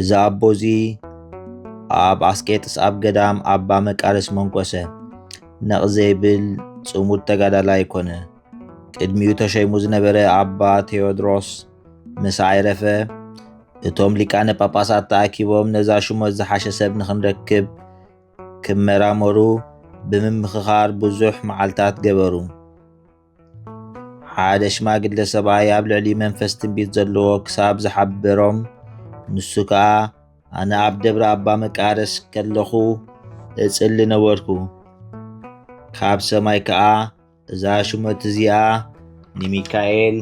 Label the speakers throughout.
Speaker 1: እዚ ኣቦ እዚ ኣብ ኣስቄጥስ ኣብ ገዳም ኣባ መቃርስ መንኮሰ ነቕ ዘይብል ጽሙድ ተጋዳላይ ኮነ። ቅድሚኡ ተሸይሙ ዝነበረ ኣባ ቴዎድሮስ ምስ ኣይረፈ እቶም ሊቃነ ጳጳሳት ተኣኪቦም ነዛ ሽሞት ዝሓሸ ሰብ ንኽንረክብ ክመራመሩ ብምምኽኻር ብዙሕ መዓልታት ገበሩ። ሓደ ሽማግለ ሰብኣይ ኣብ ልዕሊ መንፈስ ትንቢት ዘለዎ ክሳብ ዝሓበሮም ንሱ ከኣ ኣነ ኣብ ደብረ ኣባ መቃርስ ከለኹ እጽሊ ነበርኩ ካብ ሰማይ ከኣ እዛ ሹመት እዚኣ ንሚካኤል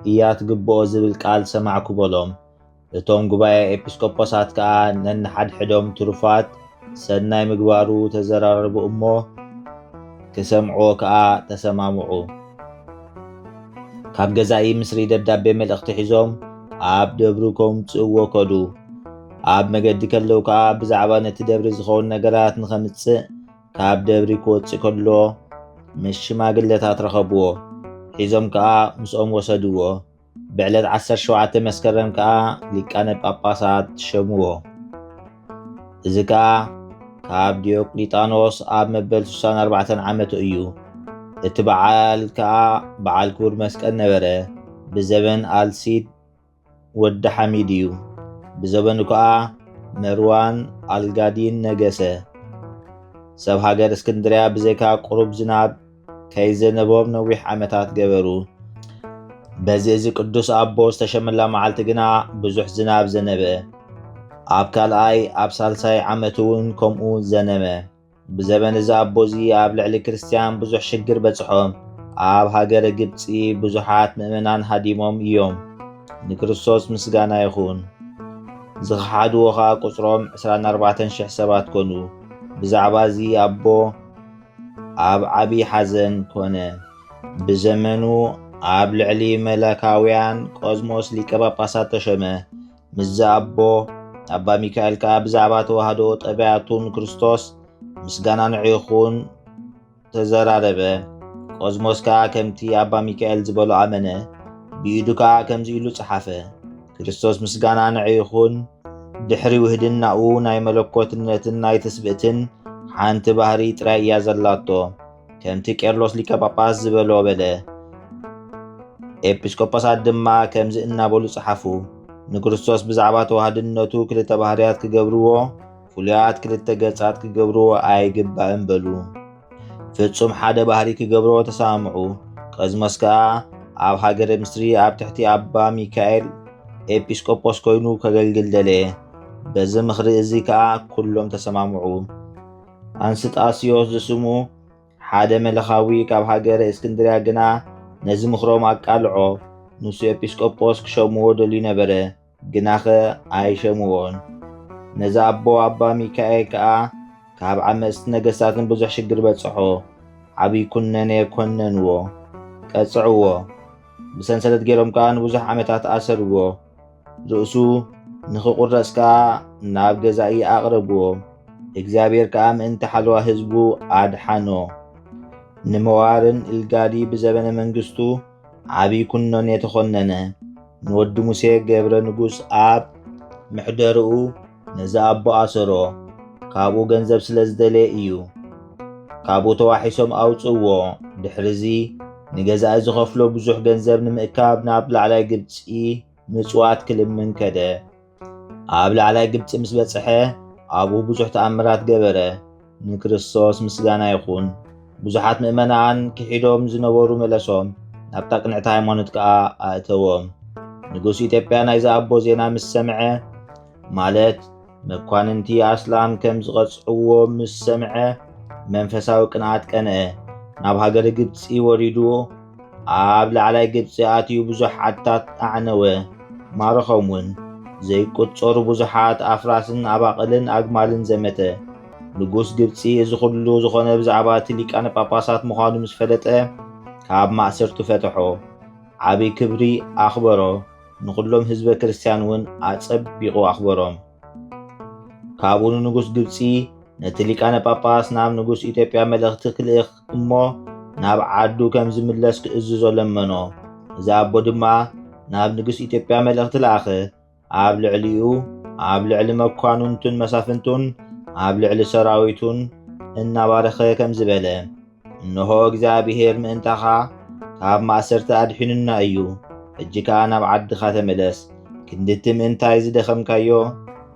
Speaker 1: እያ ትግብኦ ዝብል ቃል ሰማዕኩ በሎም እቶም ጉባኤ ኤጲስቆጶሳት ከኣ ነንሓድሕዶም ትሩፋት ሰናይ ምግባሩ ተዘራረቡ እሞ ክሰምዕዎ ከኣ ተሰማምዑ። ካብ ገዛኢ ምስሪ ደብዳቤ መልእኽቲ ሒዞም ኣብ ደብሩ ከምጽእዎ ከዱ። ኣብ መገዲ ከለዉ ከኣ ብዛዕባ ነቲ ደብሪ ዝኸውን ነገራት ንኸምጽእ ካብ ደብሪ ክወጽእ ከሎ ምስ ሽማግለታት ረኸብዎ። ሒዞም ከኣ ምስኦም ወሰድዎ። ብዕለት ዓሰርተ ሸውዓተ መስከረም ከኣ ሊቃነ ጳጳሳት ሸምዎ። እዚ ከኣ ካብ ዲዮቅሊጣኖስ ኣብ መበል 64 ዓመቱ እዩ። እቲ በዓል ከኣ በዓል ክቡር መስቀል ነበረ። ብዘበን ኣልሲድ ወዲ ሓሚድ እዩ። ብዘበኑ ከኣ መርዋን ኣልጋዲን ነገሰ። ሰብ ሃገር እስክንድርያ ብዘይካ ቁሩብ ዝናብ ከይዘነበዎም ነዊሕ ዓመታት ገበሩ። በዚ እዚ ቅዱስ ኣቦ ዝተሸመላ መዓልቲ ግና ብዙሕ ዝናብ ዘነበ። ኣብ ካልኣይ ኣብ ሳልሳይ ዓመት እውን ከምኡ ዘነመ። ብዘበን እዚ ኣቦ እዚ ኣብ ልዕሊ ክርስትያን ብዙሕ ሽግር በጽሖም። ኣብ ሃገረ ግብጺ ብዙሓት ምእመናን ሃዲሞም እዮም። ንክርስቶስ ምስጋና ይኹን። ዝኸሓድዎ ኸኣ ቁጽሮም ዕስራን ኣርባዕተን ሽሕ ሰባት ኮኑ። ብዛዕባ እዚ ኣቦ ኣብ ዓቢ ሓዘን ኮነ። ብዘመኑ ኣብ ልዕሊ መላካውያን ቆዝሞስ ሊቀ ጳጳሳት ተሸመ። ምስዚ ኣቦ ኣባ ሚካኤል ከኣ ብዛዕባ ተዋህዶ ጠባያቱን ክርስቶስ ምስጋና ንዒኹን ተዘራረበ። ቆዝሞስ ከኣ ከምቲ ኣባ ሚካኤል ዝበሎ ኣመነ፣ ብኢዱ ከኣ ከምዚ ኢሉ ጸሓፈ። ክርስቶስ ምስጋና ንዕ ይኹን ድሕሪ ውህድናኡ ናይ መለኮትነትን ናይ ትስብእትን ሓንቲ ባህሪ ጥራይ እያ ዘላቶ ከምቲ ቄርሎስ ሊቀ ጳጳስ ዝበሎ በለ ኤጲስቆጶሳት ድማ ከምዚ እናበሉ ጸሓፉ ንክርስቶስ ብዛዕባ ተዋህድነቱ ክልተ ባህርያት ክገብርዎ ፍሉያት ክልተ ገጻት ክገብርዎ ኣይግባእን በሉ ፍጹም ሓደ ባህሪ ክገብሮ ተሰማምዑ። ቀዝመስ ከኣ ኣብ ሃገረ ምስሪ ኣብ ትሕቲ ኣባ ሚካኤል ኤጲስቆጶስ ኮይኑ ከገልግል ደለየ። በዚ ምኽሪ እዚ ከኣ ኩሎም ተሰማምዑ። ኣንስጣስዮስ ዝስሙ ሓደ መለኻዊ ካብ ሃገረ እስክንድርያ ግና ነዚ ምኽሮም ኣቃልዖ። ንሱ ኤጲስቆጶስ ክሸምዎ ደልዩ ነበረ። ግናኸ ኣይሸምዎን። ነዚ ኣቦ ኣባ ሚካኤል ከኣ ካብ ዓመጽቲ ነገስታትን ብዙሕ ሽግር በጽሖ። ዓብይ ኩነኔ ኮነንዎ። ቀጽዕዎ። ብሰንሰለት ገይሮም ከኣ ንብዙሕ ዓመታት ኣሰርዎ። ርእሱ ንኽቑረጽ ከኣ ናብ ገዛኢ ኣቕረብዎ። እግዚኣብሔር ከኣ ምእንቲ ሓለዋ ህዝቡ ኣድሓኖ። ንመዋርን ኢልጋሊ ብዘበነ መንግስቱ፣ ዓብይ ኩኖን የተኾነነ ንወዲ ሙሴ ገብረ ንጉስ ኣብ ምሕደርኡ ነዚ ኣቦ ኣሰሮ ካብኡ ገንዘብ ስለ ዝደለየ እዩ ካብኡ ተዋሒሶም ኣውፅእዎ ድሕርዚ ንገዛኢ ዝኸፍሎ ብዙሕ ገንዘብ ንምእካብ ናብ ላዕላይ ግብፂ ምጽዋት ክልምን ከደ። ኣብ ላዕላይ ግብፂ ምስ በጽሐ ኣብኡ ብዙሕ ተኣምራት ገበረ። ንክርስቶስ ምስጋና ይኹን። ብዙሓት ምእመናን ክሒዶም ዝነበሩ መለሶም፣ ናብታ ቅንዕቲ ሃይማኖት ከኣ ኣእተዎም። ንጉስ ኢትዮጵያ ናይዚ ኣቦ ዜና ምስ ሰምዐ ማለት መኳንንቲ ኣስላም ከም ዝቐጽዕዎ ምስ ሰምዐ መንፈሳዊ ቅንኣት ቀንአ። ናብ ሃገረ ግብጺ ወሪዱ ኣብ ላዕላይ ግብጺ ኣትዩ ብዙሕ ዓድታት ኣዕነወ፣ ማረኾም እውን። ዘይቁጸሩ ብዙሓት ኣፍራስን ኣባቕልን ኣግማልን ዘመተ። ንጉስ ግብጺ እዚ ኹሉ ዝኾነ ብዛዕባ እቲ ሊቃነ ጳጳሳት ምዃኑ ምስ ፈለጠ ካብ ማእሰርቱ ፈተሖ፣ ዓቢ ክብሪ ኣኽበሮ። ንዅሎም ህዝበ ክርስትያን እውን ኣጸቢቑ ኣኽበሮም። ካብኡ ንንጉስ ግብጺ ነቲ ሊቃነ ጳጳስ ናብ ንጉስ ኢትዮጵያ መልእኽቲ ክልእኽ እሞ ናብ ዓዱ ከም ዝምለስ ክእዝዞ ለመኖ። እዚ ኣቦ ድማ ናብ ንጉስ ኢትዮጵያ መልእኽቲ ለኣኸ። ኣብ ልዕሊኡ፣ ኣብ ልዕሊ መኳንንቱን መሳፍንቱን፣ ኣብ ልዕሊ ሰራዊቱን እናባረኸ ከምዚ በለ፣ እንሆ እግዚኣብሄር ምእንታኻ ካብ ማእሰርቲ ኣድሒኑና እዩ፣ ሕጂ ከኣ ናብ ዓድኻ ተመለስ፣ ክንዲ እቲ ምእንታይ ዝደኸምካዮ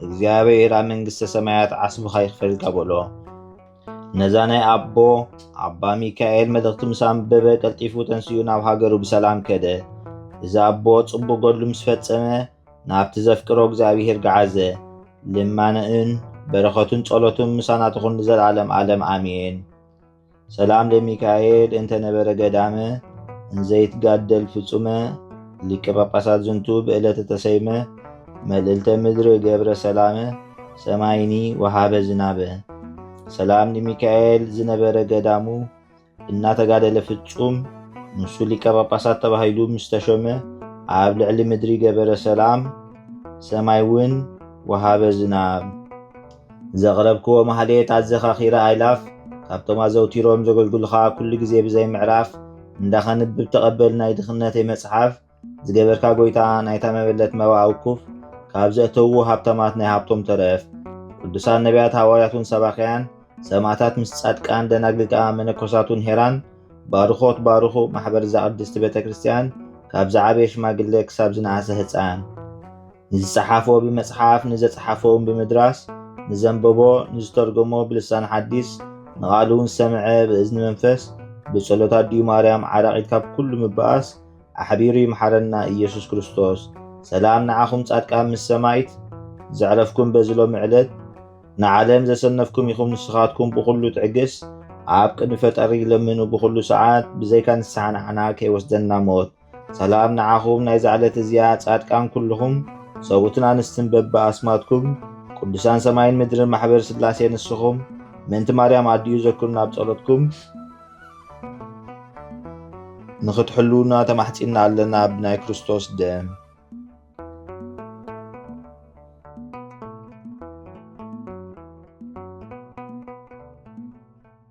Speaker 1: እግዚኣብሄር ኣብ መንግስተ ሰማያት ዓስብኻ ይኽፈልካ በሎ። ነዛ ናይ ኣቦ ኣባ ሚካኤል መልእኽቲ ምስ ኣንበበ ቀልጢፉ ተንሲኡ ናብ ሃገሩ ብሰላም ከደ። እዚ ኣቦ ጽቡቕ ገድሉ ምስ ፈጸመ ናብቲ ዘፍቅሮ እግዚኣብሄር ገዓዘ። ልማንኡን በረኸቱን ጸሎቱን ምሳና ትኹን ንዘለዓለም ዓለም ኣሜን። ሰላም ለሚካኤል እንተ ነበረ ገዳመ እንዘይትጋደል ፍጹመ ሊቀ ጳጳሳት ዝንቱ ብዕለተ ተሰይመ መልእልተ ምድሪ ገብረ ሰላመ ሰማይኒ ወሃበ ዝናበ ሰላም ለሚካኤል ዝነበረ ገዳሙ እናተጋደለ ፍጹም ንሱ ሊቀ ጳጳሳት ተባሂሉ ምስ ተሾመ ኣብ ልዕሊ ምድሪ ገበረ ሰላም ሰማይ እውን ወሃበ ዝናብ ዘቕረብክዎ ማህሌት ኣዘኻኺረ ኣይላፍ ካብቶም ኣዘውቲሮም ዘገልግሉኻ ኩሉ ግዜ ብዘይ ምዕራፍ እንዳ ከንብብ ተቐበል ናይ ድኽነተይ መጽሓፍ ዝገበርካ ጎይታ ናይታ መበለት መባእ ውኩፍ ካብ ዘእተውዎ ሃብታማት ናይ ሃብቶም ተረፍ ቅዱሳን ነቢያት ሃዋርያቱን ሰባክያን ሰማእታት ምስ ጻድቃን ደናግል ከኣ መነኮሳቱን ሄራን ባርኾት ባርኹ ማሕበር እዛ ቅድስቲ ቤተ ክርስቲያን ካብ ዝዓበየ ሽማግለ ክሳብ ዝነኣሰ ህጻን ንዝጸሓፎ ብመጽሓፍ፣ ንዘጽሓፎውን ብምድራስ፣ ንዘንበቦ፣ ንዝተርጎሞ ብልሳን ሓዲስ፣ ንቓሉ ንሰምዐ ብእዝኒ መንፈስ፣ ብጸሎት ኣዲኡ ማርያም ዓራቒት ካብ ኩሉ ምብኣስ ኣሕቢሩ ይምሓረና ኢየሱስ ክርስቶስ። ሰላም ንዓኹም ጻድቃን ምስ ሰማይት ዘዕረፍኩም በዚ ሎሚ ዕለት ንዓለም ዘሰነፍኩም ኢኹም ንስኻትኩም ብኹሉ ትዕግስ ኣብ ቅድሚ ፈጠሪ ለምኑ ብኹሉ ሰዓት ብዘይካ ንስሓ ንዓና ከይወስደና ሞት ሰላም ንዓኹም ናይዛ ዕለት እዚኣ ጻድቃን ኩሉኹም ሰብኡትን ኣንስትን በቢ ኣስማትኩም ቅዱሳን ሰማይን ምድርን ማሕበር ስላሴ ንስኹም ምእንቲ ማርያም ኣዲኡ ዘክሩና ኣብ ጸሎትኩም ንኽትሕልውና ተማሕጺና ኣለና ብናይ ክርስቶስ ደም